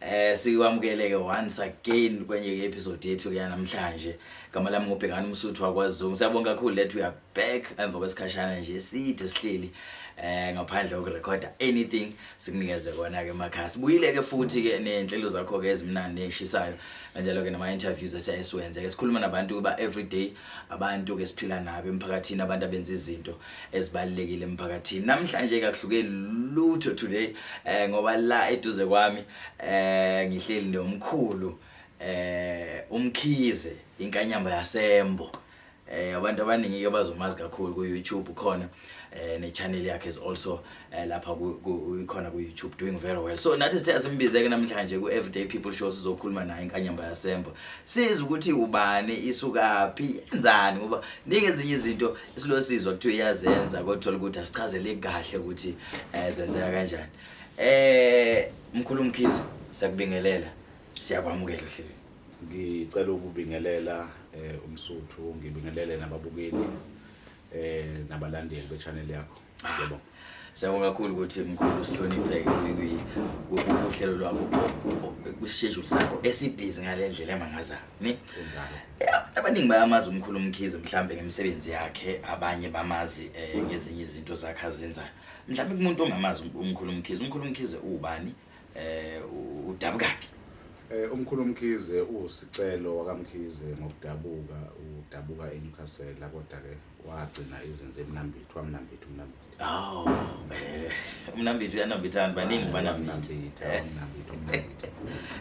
Eh sikwamukeleke once again kwenye ke episode yethu ke namhlanje. Gama lami ngubhekana umsuthu wakwaZungu. Siyabonga kakhulu that we are back emva kwesikhashana nje side sihleli eh ngaphandle kokurecorda anything sikunikeze kona ke makhaya. Sibuyile ke futhi ke nenhlelo zakho ke ezimnandi eshisayo kanjalo ke nama interviews esiyayisiwenze. Ke sikhuluma nabantu kuba everyday abantu ke siphila nabo emphakathini abantu abenza izinto. ezibalekile emphakathini namhlanje kakuhluke lutho today eh ngoba la eduze kwami eh ngihleli nomkhulu eh umkhize inkanyamba yasembo eh abantu abaningi ke bazomazi kakhulu ku YouTube khona eh ne channel yakhe is also eh lapha ikhona ku YouTube doing very well so nathi sithe asimbizeke namhlanje ku everyday people show sizokhuluma naye inkanyamba yasembo siza ukuthi ubani isukaphi yenzani ngoba ningi ezinye izinto isilosizwa kuthiwa iyazenza kodwa ukuthi asichazele kahle ukuthi eh zenzeka kanjani eh mkhulu mkhize siyakubingelela siyakwamukela ohlelweni ngicela ukubingelela eh umsuthu ngibingelele nababukeli eh nabalandeli be channel yakho Siyabonga. Siyabonga kakhulu ukuthi mkhulu sihlonipheke kuhlelo lwakho kuschedule sakho esibhizi ngalendlela emangaza ni abaningi bayamazi umkhulu umkhize mhlambe ngemisebenzi yakhe abanye bamazi eh, ngezinye izinto zakhe azenzayo mhlambe kumuntu ongamazi umkhulu umkhize umkhulu umkhize ubani eh udabukaphi eh umkhulu umkhize usicelo wakamkhize ngokudabuka udabuka eNewcastle kodwa ke wagcina izinze emnambithi wamnambithi umnambithi Oh, eh, mnambithi uyanambithana baningi ah, banambithi. Eh.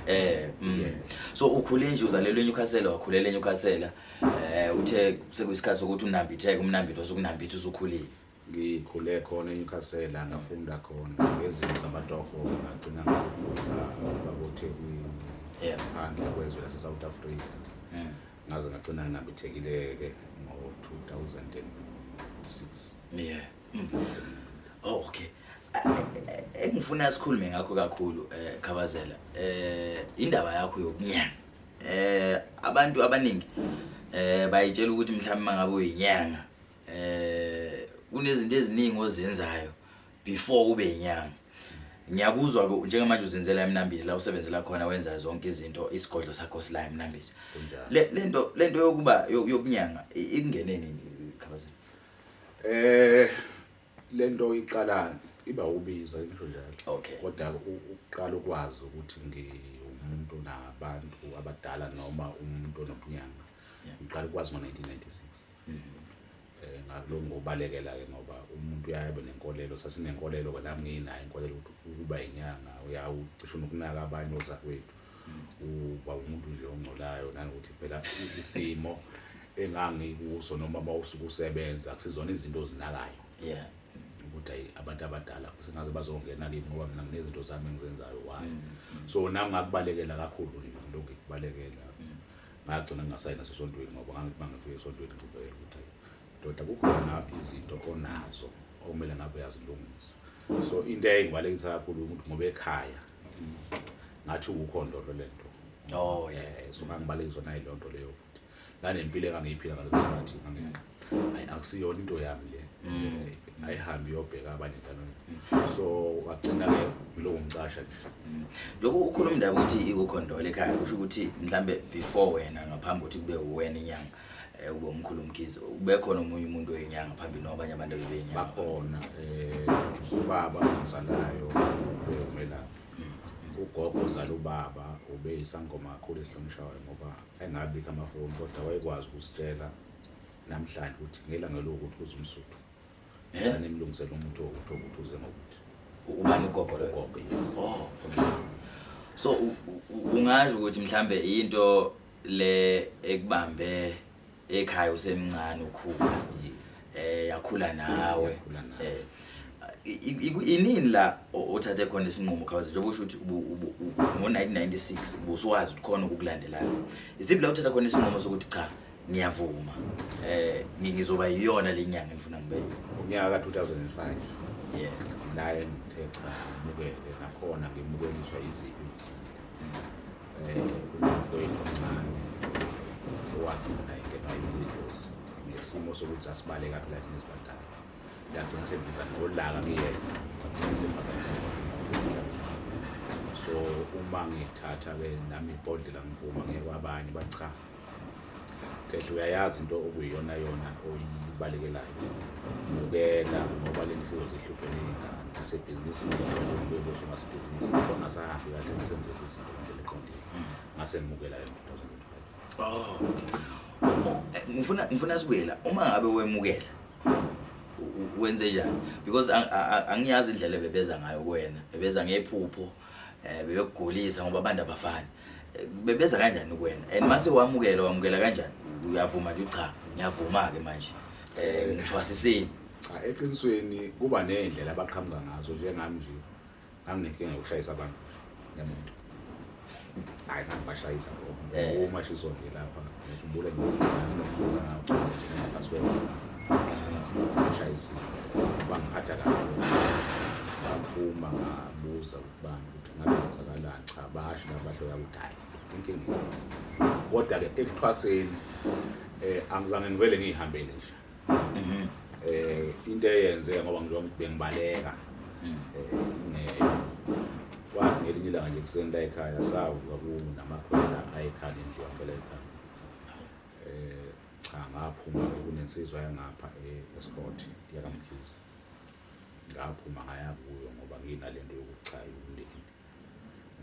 eh, mm. so ukhule nje uzalelwe eNewcastle wakhulela eNewcastle. Eh, uthe sekuyisikhathi sokuthi unambitheke umnambithi osukunambitha usukhulile. Ngikhule khona eNewcastle ngafunda khona ngezinto zamatoho ngagcina ngafunda babothekwini. Yeah. Phandle kwezwe lase South Africa. Mm. ngaze ngagcina nginambithekile-ke ngo-2006 yeah oh, okay engifuna sikhulume ngakho kakhulu um eh, khabazela um indaba yakho yokunyanga um abantu abaningi um bayitshela ukuthi mhlawumbe uma ngabe uyinyanga um kunezinto eziningi ozenzayo before ube inyanga ngiyakuzwa ke njengamanje uzenzela emnambithi la usebenzela khona wenza zonke izinto isigodlo sakho sila emnambithi le lento lento yokuba yokunyanga ikungene nini khabazela eh lento iqala iba ubiza ngisho njalo okay kodwa uqala ukwazi ukuthi ngiwumuntu nabantu abadala noma umuntu onobunyanga ngiqala ukwazi ngo 1996 Eh, ngakulokhu ngobalekela-ke ngoba umuntu uyaye abe nenkolelo sasinenkolelo ke nami ngiyinayo inkolelo ukuthi ukuba yinyanga uyawucisha unokunaka abanye ozakwethu uba umuntu nje ongcolayo nanokuthi phela isimo engangikuso noma uma usuke usebenza akusizona izinto ozinakayo yeah ukuthi ayi abantu abadala sengaze bazongena kimi ngoba mina nginezinto zami engizenzayo why so nami ngakubalekela kakhulu nje lokhu ngikubalekela ngagcina ngingasayi naso esontweni ngoba ngangithi mangifika esontweni ngivele ukuthi ndoda kukhona izinto onazo okumele ngabe uyazilungisa so into eyayingibalekisa kakhulu ukuthi ngoba ekhaya ngathi ukukhondolo le nto oh yeah so ngangibalekiswa nayiloo nto leyo futhi nanempilo engangiyiphila ngaleso sikhathi ayi akusiyona into yami le mm. ayihambi iyobheka abanye njalo mm. so wagcina ke ngiloku ngicasha nje mm. lokhu ukhuluma indaba ukuthi ikukhondole ekhaya kusho ukuthi mhlambe before wena ngaphambi ukuthi kube uwena inyanga eh, ube umkhulu umkhizi ubekhona omunye umuntu oyinyanga phambili nobanye abantu abebeyinyanga bakhona um ubaba ongizalayo bewumelaphi ugogo ozala ubaba ube isangoma kakhulu esihlonishwayo ngoba engabikho amafoni kodwa wayekwazi ukusitshela namhlanje ukuthi ngelanga lokuthi uze umsuthu ngicela nimlungisele umuntu wokuthi ukuthi uze ngokuthi ubani ugogo logogo yes oh okay so ungasho ukuthi mhlambe into le ekubambe ekhaya usemncane ukhula eh yakhula nawe eh inini la othathe khona isinqumo khawuze njengoba usho ukuthi ngo-1996 ubusuwazi ukuthi khona ukukulandelayo isiphi la uthatha khona isinqumo sokuthi cha ngiyavuma eh ngizoba yiyona lenyanga ngifuna ngibe unyaka ka 2005 yeah naye ngithe cha ngimukele nakhona ngimukeliswa izibi eh umfowethu omncane owagcina engena yilizos ngesimo sokuthi asibale kabi la thina sibadala ngagcina sendiza nolaka kuyena ngagcina sephazamisa so uma ngithatha ke nami ibhodlela ngiphuma ngeke kwabanye bachaha Ngedla uyayazi into okuyiyona yona oyibalekelayo. Mukela ngoba le ndlu iyozihluphe ney'ngane nasebhizinisini kube boso ngasebhizinisi ngoba ngasahambi kahle ngisenzele izinto ngendlela eqondile. Ngase ngimukela yona into Oh. Oh, eh, Ngifuna ngifuna sibuyela uma ngabe wemukela u- u- wenze njani because ang- a- a- angiyazi indlela ebebeza ngayo kuwena ebeza ngephupho eh beyokugulisa ngoba abantu abafani Eh, bebeza kanjani kuwena and mase wamukela wamukela kanjani uyavuma nje ucha ngiyavuma ke manje eh ngithwasisile Cha eqinisweni kuba nezindlela abaqhamuka ngazo njengami nje. Anginenkinga yokushayisa abantu. Ngiyamuntu. Hayi ngangibashayisa ngoba Eh. uma shiso nje lapha. ngikhumbule ngashayisile bangiphatha kabi baphuma ngabuza ukuba ukuthi ngabe kwenzakalani cha basho nabasho yakudala inkinga kodwa-ke ekuthwaseni um angizange ngivele ngiyihambele nje mhm. eh into eyenze ngoba ngijonga ukuthi bengibaleka mhm. eh wathi ngelinye ilanga nje kuseni la ekhaya savuka kunamakhwela ayekhaya endlu yakhe la ekhaya eh cha ngaphuma kunensizwa yangapha eh, escort yakamkhizi ngaphuma ngaya kuyo ngoba nginalento yokuchaya umndeni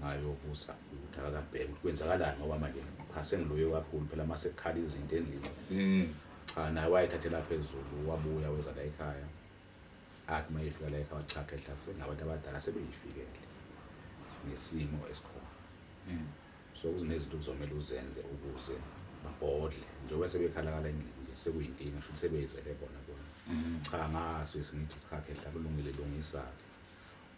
ngayobuza ukuthi akakabheki ukuthi kwenzakalani ngoba manje cha sengiloye kakhulu phela uma sekukhala izinto endlini mm. cha naye wayethathela phezulu wabuya weza la ekhaya athi uma efika la ekhaya wathi cha khehla sengabantu abadala sebeyifikele ngesimo esikhona mm. so kuzinezinto kuzomele uzenze ukuze babhodle njengoba sebekhalakala endlini nje sekuyinkinga shuthi sebeyizele bona bona mm. cha ngaso esingithi cha khehla kulungile lungisa-ke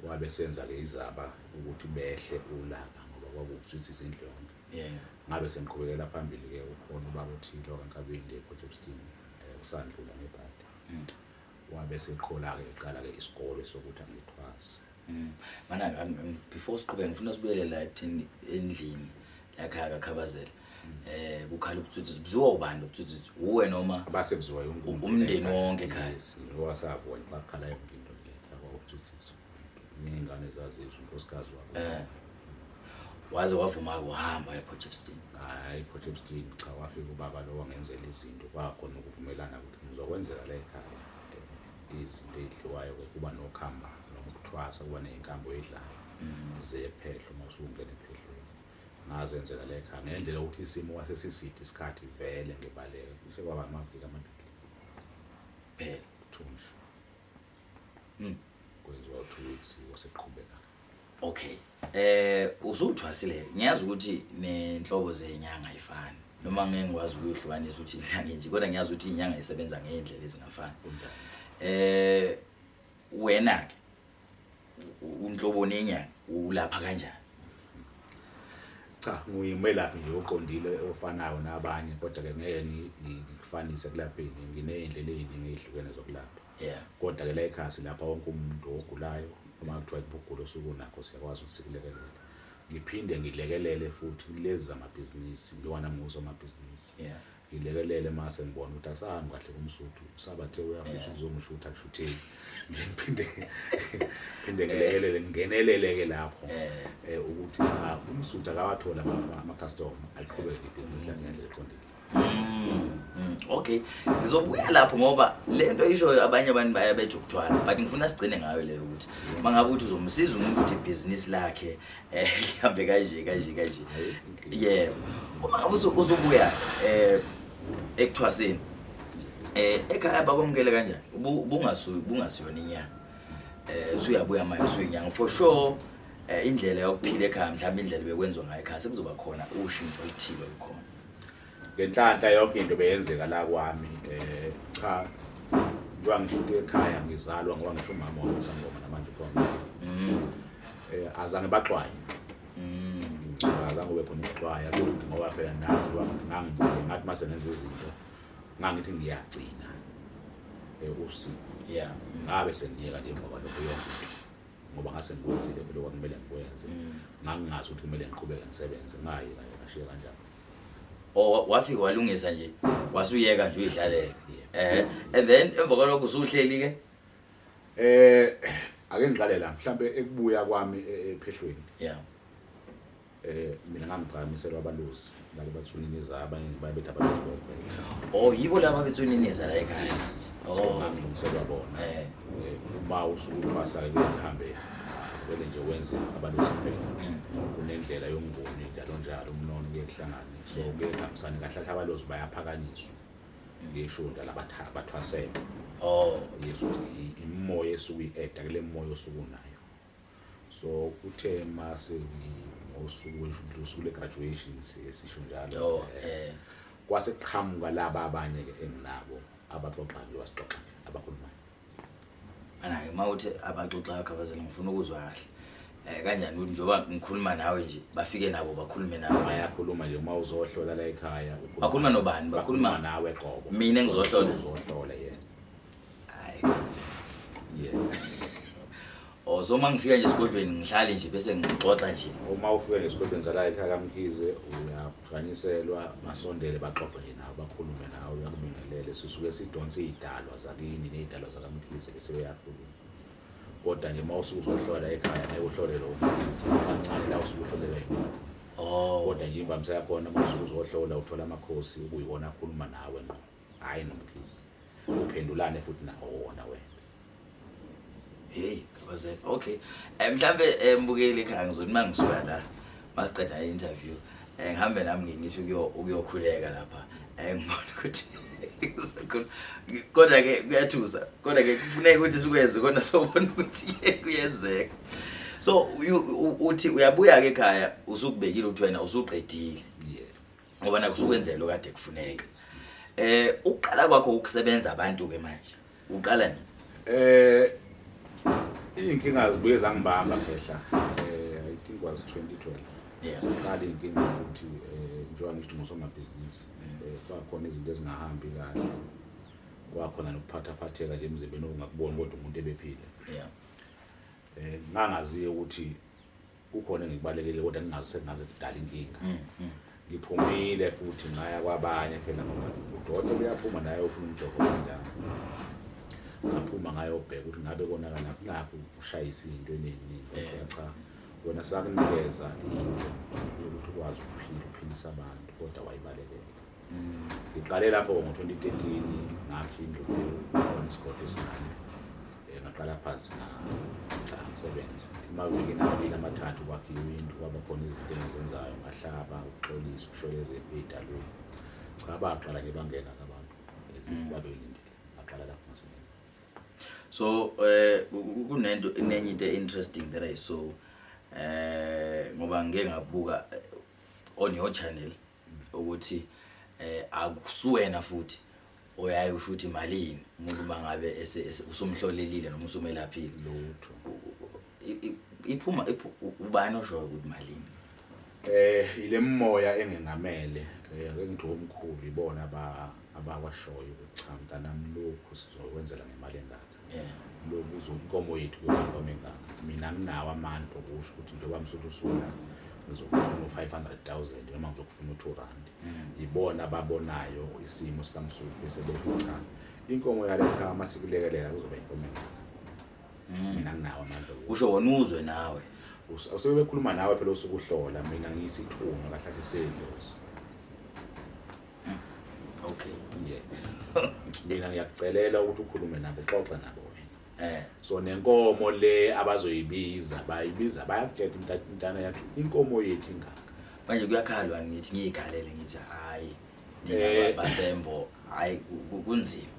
Wabe senza ke izaba ukuthi behle ulaka ngoba kwakuwukuthutha izindlonke. Yeah. Ngabe sengiqhubekela phambili ke ukhona ubaba othile wankabindi ePort Shepstone eh, usandlula ngebhadi. Mm. Wabe seqhola ke eqala ke isikole sokuthi angithwase. Mm. Mana before siqhubeke ngifuna sibuyele la ekuthini endlini yakhe akakhabazela. eh kukhala ubutsotsi buziwa ubani ubutsotsi uwe noma base buziwa yonke umndeni wonke ekhaya ngoba savona bakhala yonke into le yabo ubutsotsi ningane zazizwe unkosikazi wabo eh waze wavuma ukuhamba ePortchepstein hayi ePortchepstein cha wafika ubaba lo wangenzela izinto kwakhona ukuvumelana ukuthi ngizokwenzela la ekhaya eh, izinto ezidliwayo kuba nokhamba nokuthwasa kuba nezinkambo edlayo mm. zephehlo uma usungena ephehlweni Ngazenzela le ekhaya ngendlela ukuthi isimo kwase siside isikhathi vele ngibaleka kushe kwaba amaviki amabili phela thunjwa mm. kwenziwa two weeks waseqhubeka okay eh usuthwasile ngiyazi ukuthi nenhlobo zenyanga ayifani noma ngeke ngikwazi ukuyihlukanisa ukuthi inyanga nje kodwa ngiyazi ukuthi inyanga isebenza ngeendlela ezingafani eh wena ke unhlobo nenyanga ulapha kanjani cha nguyimelaphi nje oqondile ofanayo nabanye kodwa ke ngeke ngikufanise kulapheni nginey'ndlela ey'ningi ey'hlukene zokulapha yeah kodwa ke la ekhasi lapha wonke umuntu ogulayo uma kuthiwa kubugula osuku nakho siyakwazi ukuthi sikulekelele ngiphinde ngilekelele futhi kulezi zamabhizinisi ngiwana muso amabhizinisi yeah Ngilekelele mase ngibona ukuthi akusahambi kahle kumsuthu usabathe uyafisa ukuzongishutha kushutheni ngiphinde phinde ngilekelele ngingeneleleke lapho eh ukuthi cha umsuthu akawathola ama customer aliqhubeke ibhizinisi lakhe ngendlela eqondile Mm, okay ngizobuya lapho ngoba le nto ishoyo abanye abantu baye bethi ukuthwala but ngifuna sigcine ngayo leyo ukuthi uma ngabe ukuthi uzomsiza umuntu ukuthi ibhizinisi lakhe Eh, lihambe kanje kanje kanje. Yebo. Uma ngabe usu- usubuya eh ekuthwaseni. Eh ekhaya bakwamukele kanjani? Ubu- Ubungasuyi ubungasiyona inyanga. Eh usuyabuya manje usuyinyanga for sure. Eh indlela yokuphila ekhaya mhlawumbe indlela bekwenziwa ngayo ekhaya sekuzoba khona ushintsho oluthile olukhona. ngenhlanhla yonke into beyenzeka la kwami eh cha ngiba ngishuke ekhaya ngizalwa ngoba ngisho umama wami usangoma namanje khona mm. eh azange baxwaye mm. azange ube khona ukuxwaya kuthi ngoba phela nami ngangibuke ngathi mase nenza izinto ngangithi ngiyagcina eh usiku yeah ngabe sengiyeka nje ngoba lokho yonke ngoba ngase ngikwenzile phela kwakumele ngikwenze mm. ngangingazi ukuthi kumele ngiqhubeke ngisebenze ngayi kanye ngashiya kanjani or wafika walungisa nje wasuyeka nje uyidlalela eh and then emva kwalokho usuhleli ke eh ake ngiqale la mhlambe ekubuya kwami e- ephehlweni yeah eh mina ngangiphakamiselwa abalusi labo bathuniniza abanye babethi abalokho oh yibo laba bethuniniza la ekhaya so oh ngangilungiselwa bona eh uma usukuthwasa kuyahambela vele nje wenze abantu besaphela kunendlela yomnguni njalo njalo umnono kuye kuhlangane so kuye kuhambisane kahle kahle abalozi bayaphakanyiswa ngisho ndala batha- bathwasele oh yes ukuthi i- imimoya esuke i-eda kule moya osuke unayo so uthe mase ngosuku weshudlu usuku le graduation sisho njalo oh, eh kwase qhamuka laba abanye ke enginabo abaxoxa nje wasixoxa abakhulumayo ana ke mawuthi abaxoxa yakho abazali ngifuna ukuzwa kahle eh kanjani ukuthi njoba ngikhuluma nawe nje bafike nabo bakhulume nawe bayakhuluma nje uma uzohlola la ekhaya bakhuluma nobani bakhuluma nawe qobo mina ngizohlola uzohlola yena Hayi. Yeah. Oh so mangifika nje esigodlweni ngihlale nje bese ngixoxa nje. Uma ufika nje esigodlweni sala ekhaya kaMkhize uyaphakanyiselwa masondele baxoxe nje nawe bakhulume nawe uyakubingelele sisuke sidonse izidalwa zakini nezidalwa zakaMkhize bese uyakhuluma. Kodwa nje uma usuke uzohlola ekhaya naye uhlole lo Mkhize kancane la usuke uhlolele yena. Oh. Kodwa nje imvamisa yakhona uma usuke uzohlola uthola amakhosi ukuyiwona akhuluma nawe ngqo. Hayi nomkhizi. Uphendulane futhi nawo wona wena. Hey, kabazela. Okay. Eh mhlambe eh, mbukeli ekhaya ngizoni mangisuka la. Masiqeda i-interview. Eh ngihambe nami ngingithi ukuyo ukuyokhuleka lapha. Eh ngibona ukuthi Ngisakhula. Ngi- Kodwa ke kuyathusa. Kodwa ke kufuneka ukuthi sikwenze kodwa sobona ukuthi kuyenzeka. So uyu- u- uthi uyabuya ke ekhaya usukubekile ukuthi wena usuqedile. ngoba naku sukwenzela lo kade kufuneka eh uqala kwakho ukusebenza abantu ke manje uqala nini eh inkinga zibuye zangibamba khehla eh i think was 2012 yeah uqala inkinga futhi eh njengoba ngisho ngosomabhizinisi mm. eh kwakhona izinto ezingahambi kahle kwakhona nokuphatha phatheka nje emzimbeni ongakuboni kodwa umuntu ebephile yeah eh ngangaziyo ukuthi kukhona engikubalekile kodwa ngingazi sengaze kudala inkinga mm, mm. ngiphumile futhi ngaya kwabanye phela ngoba udokotela uyaphuma naye ufuna umjovo kanjani ngaphuma ngayobheka ukuthi ngabe konakala kulapho ushayisa into eningi eh. cha wena sakunikeza into yokuthi ukwazi ukuphila uphilisa abantu kodwa wayibalekela Mm, ngiqale lapho ngo-2013 ngakhe indlu khona isigodi esincane um ngaqala phansi cha ngisebenze emavikini amabili amathathu kwakhiwe indlu kwaba khona izinto engizenzayo ngahlaba ukuxolisa ukusholeza ey'dalweni cha baqala nje bangena abantu mm. babelindile baqala lapho ngasebenza so um kunento inenye into e-interesting that i saw um ngoba ngike ngabuka on your channel ukuthi eh akusuwena futhi oyaye usho ukuthi malini umuntu mangabe usumhlolelile noma usumelaphile lutho iphuma ubani oshoyo ukuthi malini eh ile moya engengamele eh, engithi omkhulu ibona aba abakwashoyo ukuthi cha mntanami lokhu sizokwenzela ngemali engaka eh lokuzo inkomo yethu kuyinkomo engaka mina nginawo amandla okusho ukuthi njengoba msuthu usula ngizokufuna u-500000 noma ngizokufuna u-2 rand mm. yibona ababonayo isimo sikamsuthu bese bethi cha inkomo yale khaya uma sikulekelela kuzoba inkomo engaka mm. mina nginawo amandla usho wona uzwe nawe usebekhuluma nawe phela usukuhlola mina ngiyisithunywa kahlahle sedlozi okay yeah mina ngiyakucelela ukuthi ukhulume nabo xoxa nabo wena eh so nenkomo le abazoyibiza bayibiza bayakutshela umntana umntana yakhe inkomo yethu ingaka manje kuyakhalwa ngithi ngiyikhalele ngithi hayi eh. basembo hayi kunzima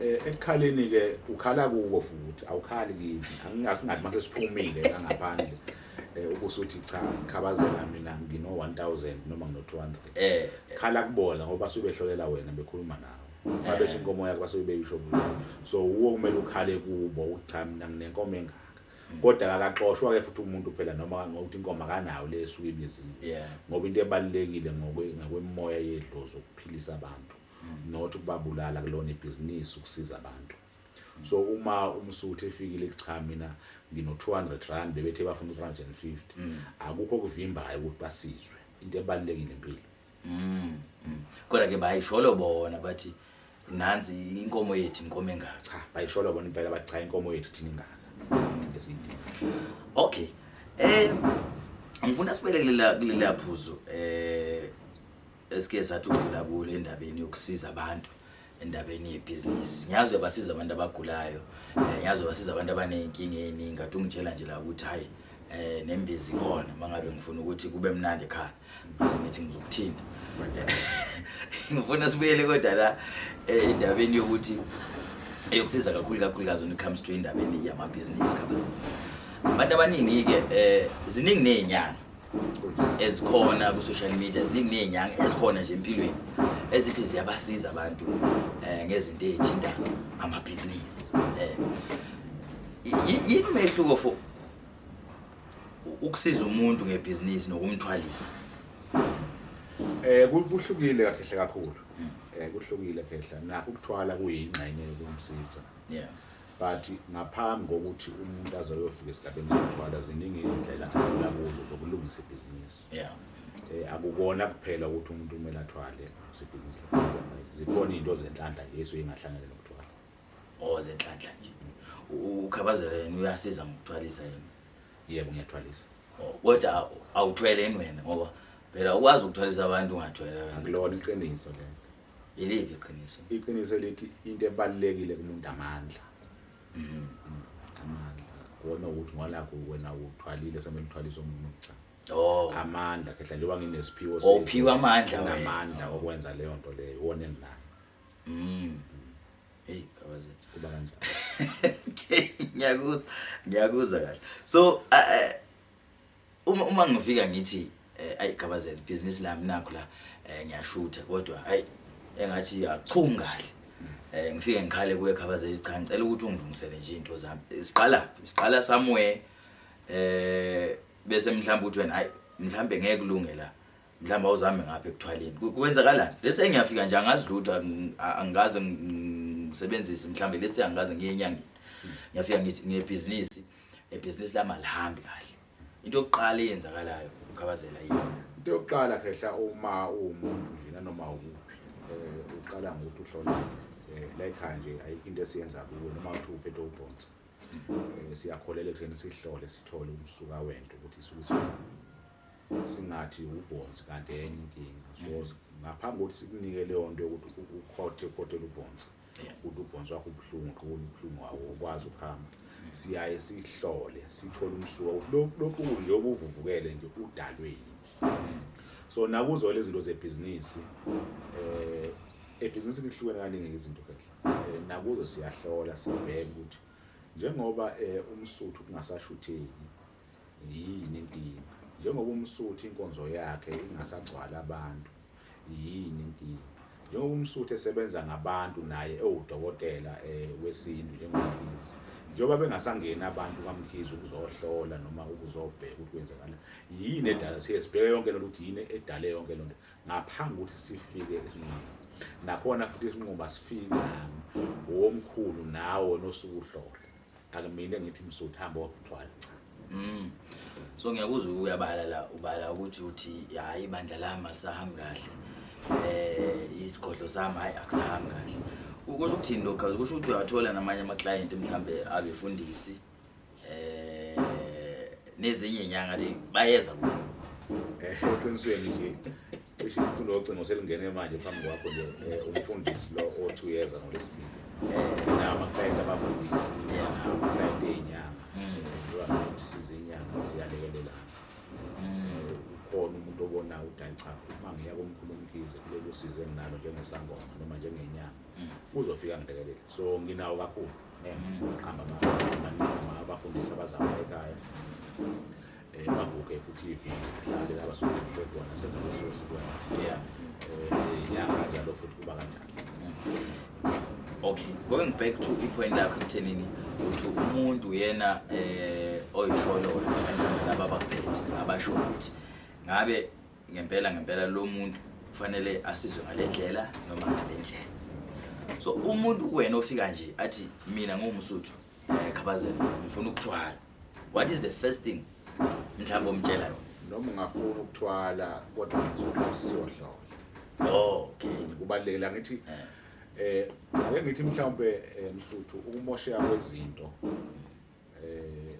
eh, ekukhaleni ke ukhala kuko futhi awukhali kimi angingasingathi mase siphumile la ngaphandle eh ubusuthi cha ngikhabazela mina ngino 1000 noma ngino 200 eh khala kubona ngoba subehlolela wena bekhuluma nawe babesho eh. inkomo yakho basuke beyisho kulo so uwo kumele ukhale kubo ucha mina nginenkomo engaka mm. kodwa akaxoshwa ke futhi umuntu phela noma ngokuthi inkomo akanayo le esuke ibiziwe ngoba into ebalekile ngokwe ngakwemoya yedlozi ukuphilisa abantu mm. not ukubabulala kulona ibhizinisi ukusiza abantu so uma umsuthu efikile cha mina ngino 200 rand bebethe bafuna 350 mm. akukho kuvimbayo ukuthi basizwe into ebalekile impilo mm, mm. kodwa ke bayisholo bona bathi nansi inkomo yethu inkomo engaka cha bayisholo bona impela bathi cha inkomo yethu thina ingaka ngesidingo okay eh ngifuna sibelekele la kulelaphuzo eh esike sathi ukudlula kulo endabeni yokusiza abantu endabeni yebhizinisi ngiyazi uyabasiza abantu abagulayo um ngiyazi uyabasiza abantu abaney'nkinga ey'ningi kade ungitshela nje la ukuthi hhayi um nembizi khona uma ngabe ngifuna ukuthi kube mnandi ekhaya base ngithi ngizokuthinta ngifuna sibuyele kodwa la eh, endabeni yokuthi eyokusiza kakhulu kakhulukazi when it comes to indabeni yamabhizinisi kabazini abantu abaningi-ke um ziningi ney'nyanga ezikhona ku-social media ziningi ney'nyanga ezikhona nje empilweni ezithi ziyabasiza abantu um ngezinto ey'thinta amabhizinisi um yini umehluko for ukusiza umuntu ngebhizinisi nokumthwalisa um kuhlukile kakhehle kakhulu um kuhlukile khehla nakho ukuthwala kuyingxenye yokumsiza yeah but ngaphambi kokuthi umuntu aze ayofika esigabeni sokuthwala ziningi iy'ndlela adlula kuzo zokulungisa ibhizinisi yeah. um akukona kuphela ukuthi umuntu kumele athwale sebhizinisi zikhona iy'nto zenhlanhla nje esuke ingahlangene nokuthwala o oh, zenhlanhla nje ukhabazela yena uyasiza ngokuthwalisa yena yebo ngiyathwalisa oh, kodwa awuthwele yini wena ngoba phela ukwazi ukuthwalisa abantu ungathwele wena akulona iqiniso lento Yiliphi iqiniso? Iqiniso elithi into ebalulekile kumuntu amandla. Mhm. Amandla. Kuwona ukuthi ngola kuwena uthwalile semele uthwalise umuntu cha. Oh. Amandla khehla njengoba nginesiphiwo Oh, sethu, uphiwe amandla wena. nginamandla okwenza leyo nto leyo wona enginayo Mm. Hey, kabaze. kuba kanjalo. Ngiyakuzwa, ngiyakuzwa kahle. So, uh, uh, uma uma ngifika ngithi eh, ayi gabazela business lami nakho la eh, ngiyashutha kodwa ayi engathi yachunga kahle eh ngifike ngikhale kuye gabazela cha ngicela ukuthi ungilungisele nje into zami Eh, siqala phi? siqala somewhere eh bese mhlawumbe uthi wena hayi mhlawumbe ngeke kulunge la mhlawumbe awuzame ngapha ekuthwaleni Ku- kwenzakalani lesi engiyafika nje angazi lutho ang- a- angikaze ng- ngisebenzise mhlawumbe lesi angikaze ngiye enyangeni ngiyafika ngithi nginebhizinisi ebhizinisi lami alihambi kahle into yokuqala eyenzakalayo ukhabazela yini into yokuqala khehla uma uwumuntu nje nanoma ukuphi um uqala ngokuthi uhloniphe um eh, layikhaya nje ayikho into esiyenza kuwe noma uthi uphethe ubhonsa um eh, siyakholela ekutheni sihlole sithole umsuka wento ukuthi isuke singathi ubhonsi kanti enye inkinga so mm. ngaphambi kokuthi sikunike leyo nto yokuthi ukhothe ukhothela ubhonsa Uthi ubhonsi wakho ubuhlungu qhuba ubuhlungu wawo ukwazi ukuhamba. Siyaye sihlole sithole umsuka ukuthi lokhu nje obuvuvukele nje udalwe yini. So nakuzo lezi zinto zebhizinisi eh ebhizinisi lihlukene kaningi izinto kahle. Eh, nakuzo siyahlola sibheke ukuthi njengoba eh, umsuthu kungasashutheki Yini inkinga? Njengoba umsuthi inkonzo yakhe ingasagcwala abantu, yini inkinga? Njengoba umsuthi esebenza ngabantu naye ewudokotela eh, wesintu njengomkhizi, njengoba bengasangeni abantu kamkhizi ukuzohlola noma ukuzobheka ukuthi kwenzekala yini edala, siye sibheke yonke lento ukuthi yini edale yonke lento ngaphambi kokuthi sifike esinquma. Nakhona futhi isinquma sifika womkhulu nawe nosukuhlola. akumile ngithi msuthu hamba wakuthwala cha Mm. So ngiyakuzwa uyabala la ubala ukuthi uthi hayi ibandla lami alisahambi kahle. Eh isigodlo sami hayi akusahambi kahle. Ukusho ukuthini lokho? Ukusho ukuthi uyathola namanye ama client mhlambe abefundisi eh nezinye inyanga le bayeza ku. Eh qinisweni nje. Cishe ikhulu locingo selingene manje phambi kwakho nje eh, umfundisi lo othi uyeza ngolesibili um namaklayenti abafundisi namaklayenti ey'nyanga njengoba ngisho ukuthi sizinyanga siyalekelelana um ukhona umuntu obona ukuthi hayi cha uma ngiya komkhulu umkhize kulolu size enginalo njengesangoma noma njengenyanga uzofika ngilekelele so nginawo kakhulu um qhamba amaningi abafundisi abazama ekhaya Maguke futhi ivi mhlawumbe laba suke bekhona senza leso sikwenza. Yeah. Eh yeah kanjalo futhi kuba kanjalo. Mm. Okay, going back to ipoint lakho kuthenini ukuthi umuntu yena eh oyisholo kanjani laba bakuphethe abasho ukuthi ngabe ngempela ngempela lo muntu kufanele asizwe ngalendlela noma ngalendlela. So umuntu wena ofika nje athi mina ngumsuthu eh khabazela ngifuna ukuthwala What is the first thing mhlawumbe omtshela yona? Noma ungafuna ukuthwala kodwa ngizokuthola Okay. Kubalekela ngithi eh. eh ake ngithi mhlawumbe eh, Msuthu ukumosheka kwezinto eh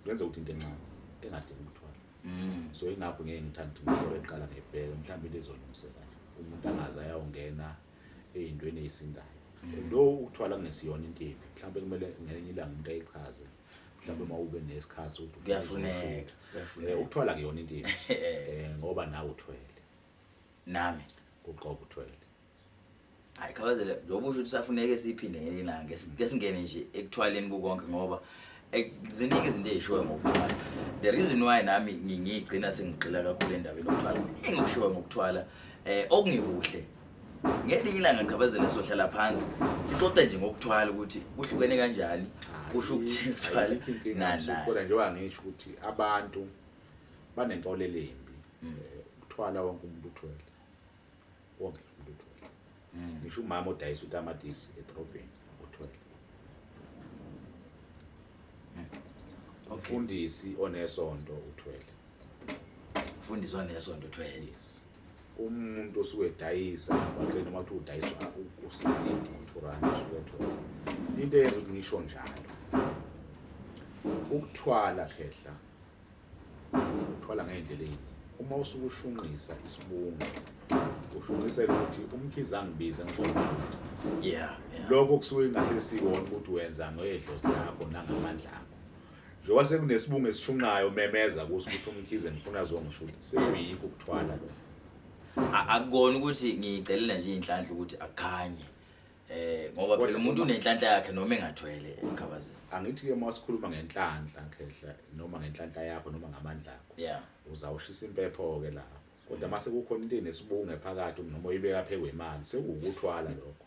kwenza ukuthi into encane engadingi ukuthwala. Mm. So ingakho ngeke ngithanda ukuthi ngihlole eqala ngebheke mhlawumbe lezolungiseka. Umuntu angaza yawungena eyintweni eyisindayo lo ukuthwala kungesiyona into embi mhlawumbe kumele ngelinye ilanga umuntu ayichaze mhlawumbe uma ube nesikhathi ukuthi kuyafuneka kuyafuneka eh, ukuthwala kuyona into embi eh, ngoba nawe uthwele nami uqobo uthwele hayi khabazela njengoba usho ukuthi safuneke siphinde ngelinye ilanga ngesingene nje ekuthwaleni kukonke ngoba Eh, ziningi izinto ezishiwe ngokuthwala the reason why nami ngiyigcina sengigxila kakhulu endabeni yokuthwala kuningi okushiwe ngokuthwala eh okungekuhle ngelinye ilanga ngichabazela sohlala phansi sixoxe nje ngokuthwala ukuthi kuhlukene kanjani kusho ukuthi kuthwala nana njengoba ngisho ukuthi abantu banenkolelo embi mm. eh, ukuthwala wonke umuntu uthwele wonke umuntu uthwele mm. ngisho umama odayisa utamatisi edrobheni uthwele mm. umfundisi onesonto uthwele umfundisi onesonto uthwele yes umuntu osuke edayisa abaqini noma kuthiwa udayiswa usilidi uthurani usuke ethola into eyenza ukuthi ngisho njalo ukuthwala khehla thwala ngey'ndlela ey'ningi uma usuke ushunqisa isibungu ushunqisela ukuthi umkhize angibize ngizomshutha yeah lokho kusuke ingahle sikona ukuthi wenza ngedlozi lakho nangamandla akho njengoba sekunesibungu esishunqayo memeza kuso ukuthi umkhize ngifuna zongishuthi sekuyikho ukuthwala lo akukona ukuthi ngiyicelela nje inhlanhla ukuthi akukhanye Eh ngoba Kodwa phela umuntu uma- unenhlanhla yakhe noma engathwele ekhabazeni. angithi ke uma sikhuluma ngenhlanhla khehla noma ngenhlanhla yakho noma ngamandla akho Yeah. uzawushisa impepho ke lapho kodwa mase kukhona into enesibunge phakathi noma uyibeka phezu kwemali sekuwukuthwala lokho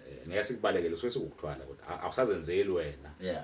eh ngeke sikubalekele kusuke sekuwukuthwala kodwa a- awusazenzeli wena Yeah.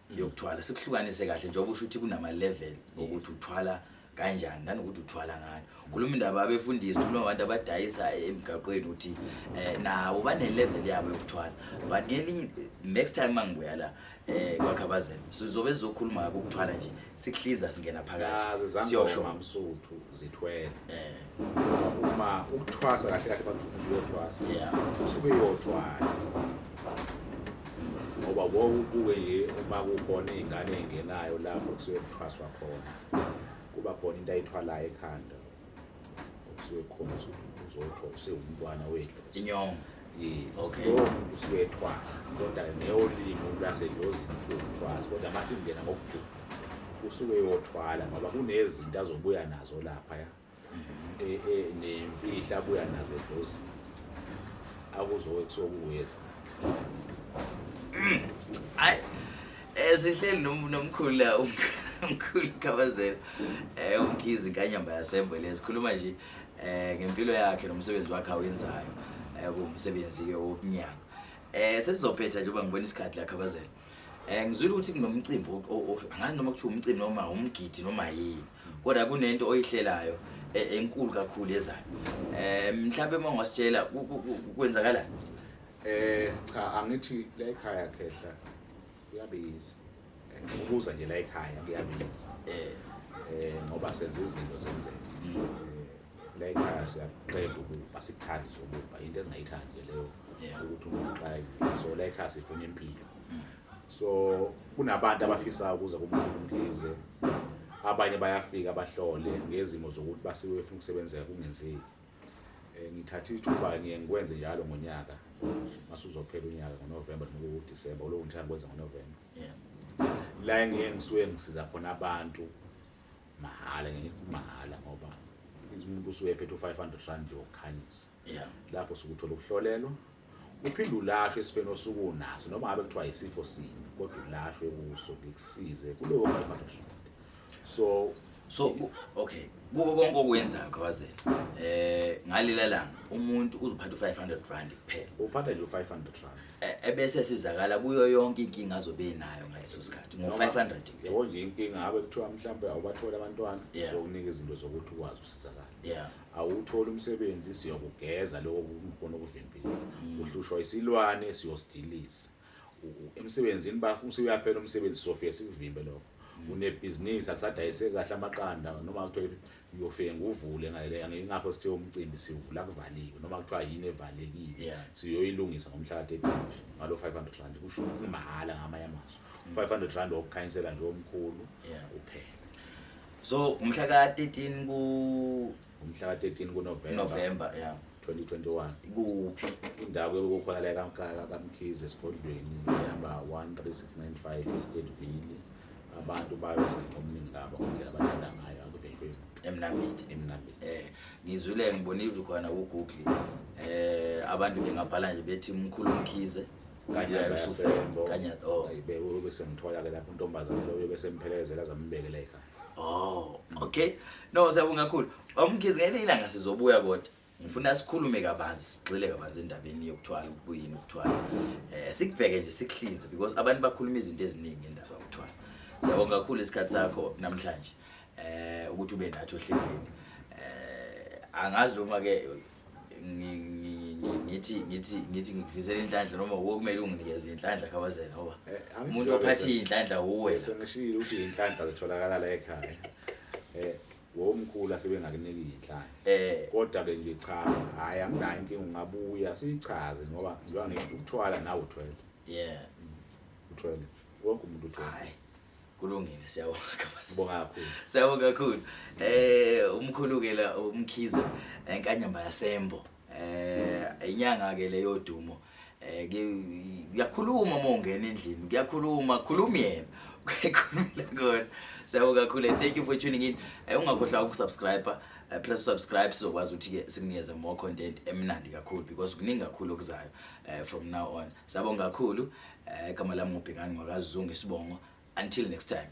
Mm. yokuthwala sikuhlukanise kahle njengoba usho ukuthi kunama-level okuthi uthwala kanjani nanokuthi uthwala ngani khuluma indaba abefundisi khuluma abantu abadayisa emgaqweni ukuthi um nabo bane-level yabo yokuthwala but ngelinye next time uma ngibuya la um kwakhabazela sizobe sizokhuluma ngako ukuthwala nje sikuhlinza singena phakathi siyosho zithwele eh uma ukuthwasa kahle kahle abantu uyothwasa yeah usuke uyothwala ngoba wonke ubuke nje uma kukhona izingane engenayo lapho kusuke kuthwaswa khona kuba khona into ayithwalayo ekhanda kusuke khona ukuthi uzotho usewumntwana wethu inyongo Yes. Okay. Kusuke ethwala. Kodwa ngeyolimi lwasedlozini kuthiwa kodwa masingena ngokujula. Kusuke yothwala ngoba kunezinto azobuya nazo lapha ya. Mhm. Eh eh nemfihla abuya nazo edlozini. Akuzowe kusokuwesa. Hayi. Eh sihleli nomkhulu la umkhulu. mkhulu khabazela um eh, umkhizi kanyamba yasembo le sikhuluma nje eh ngempilo yakhe nomsebenzi wakhe awenzayo eh kumsebenzi ke wokunyanga eh sesizophetha nje uba ngibona isikhathi la khabazela eh ngizwile ukuthi kunomcimbi o- o- o- angazi noma kuthiwa umcimbi noma umgidi noma yini kodwa kunento oyihlelayo e- enkulu kakhulu ezayo eh mhlawumbe uma ungasitshela ku- ku- ku- kwenzakalani Eh cha angithi la ekhaya khehla kuyabiza and ukuza nje la ekhaya kuyabiza eh eh ngoba senza izinto zenzeke mm. eh, la ekhaya siyaqeda ukuba sikuthanda nje ukuba into esingayithandi nje leyo ukuthi umuntu xayi so la ekhaya sifuna impilo mm. so kunabantu abafisa ukuza kumuntu umkhize abanye bayafika bahlole ngezimo zokuthi basiwe efuna ukusebenzeka kungenzeki Eh, ngithatha ithuba ngiye ngikwenze njalo ngonyaka mase uzophela unyaka ngonovemba noma udisemba ulowo ngithanda kwenza ngonovemba la engiye ngisuke ngisiza khona abantu mahhala ngimahhala ngoba umuntu usuke ephethe u-five hundred rand yokukhanyisa lapho suke uthola ukuhlolelwa uphinde ulashwe esifeni osuke unaso noma ngabe kuthiwa yisifo sini kodwa ulashwe kuso ngikusize kulowo 500 so so okay kuko konke okwenzayo kawazela eh ngalila langa umuntu uzophatha u500 rand kuphela uphatha nje u500 rand e, ebese sizakala kuyo yonke inkinga azobe enayo ngaleso sikhathi ngo500 yebo nje inkinga abe kuthiwa mhlambe awubathola abantwana so unika izinto zokuthi ukwazi usizakala yeah awutholi umsebenzi siyokugeza lokho kukhona ukuvimbela mm. uhlushwa isilwane siyosidiliza emsebenzini bakho usuyaphela umsebenzi sofike sikuvimbe lokho mm. unebhizinisi akusadayiseki kahle amaqanda noma kuthiwa uyofike nguvule ngingakho sithe umcimbi sivula kuvaliwe noma kuthiwa yini evalekile siyoyilungisa ngomhlaka etinje ngalo 500 rand kusho ukuthi mahhala ngamanye amazwi 500 mm. rand wokukhanyisela nje omkhulu uphela so umhla ka 13 ku umhla ka 13 ku November November yeah 2021 kuphi indawo yokukhona la kaMkaka kaMkhize esigodlweni ihamba 13695 Estate Ville abantu bayoze ngomningi ngabo indlela abathanda ngayo akuvenjwe emnambiti emnambiti eh ngizwile ngibonile khona ku Google eh abantu bengabhala nje bethi umkhulu Mkhize kanyana ususembo kanyana oh ayibe ube semthola ke lapho intombazane lo ube semphelezela zambekela ekhaya oh okay no siyabonga kakhulu omkhizi ngene ilanga sizobuya kodwa ngifuna sikhulume kabanzi sigxile kabanzi endabeni yokuthwala ukuyini ukuthwala eh sikubheke nje sikuhlinze because abantu bakhuluma izinto eziningi endaba yokuthwala siyabonga kakhulu isikhathi sakho namhlanje eh ukuthi ube nathi ohlelweni eh angazi noma ke ngithi ngithi ngithi ngikufisela inhlanhla noma wuwe kumele unginikeze inhlanhla khabazela ngoba eh, umuntu ophathe inhlanhla wuwe sengishilo ukuthi inhlanhla zitholakala la ekhaya eh womkhulu asebengakuniki inhlanhla eh kodwa ke nje cha hayi anginayo inkinga ungabuya sichaze ngoba ngiba ngikuthwala nawe uthwele yeah uthwele wonke umuntu uthwele kulungile siyabonga kakhulu sibonga kakhulu siyabonga kakhulu eh umkhulu ke la umkhize enkanyamba yasembo eh inyanga ke le yodumo eh kuyakhuluma uma ungena endlini kuyakhuluma khuluma yena kuyakhulumela kona siyabonga kakhulu and thank you for tuning in eh, ungakhohlwa ukusubscribe eh, plus subscribe sizokwazi ukuthi ke sikunikeze more content emnandi kakhulu because kuningi kakhulu okuzayo eh, from now on siyabonga kakhulu Eh igama lami ngubhekani ngakazungu isibongo until next time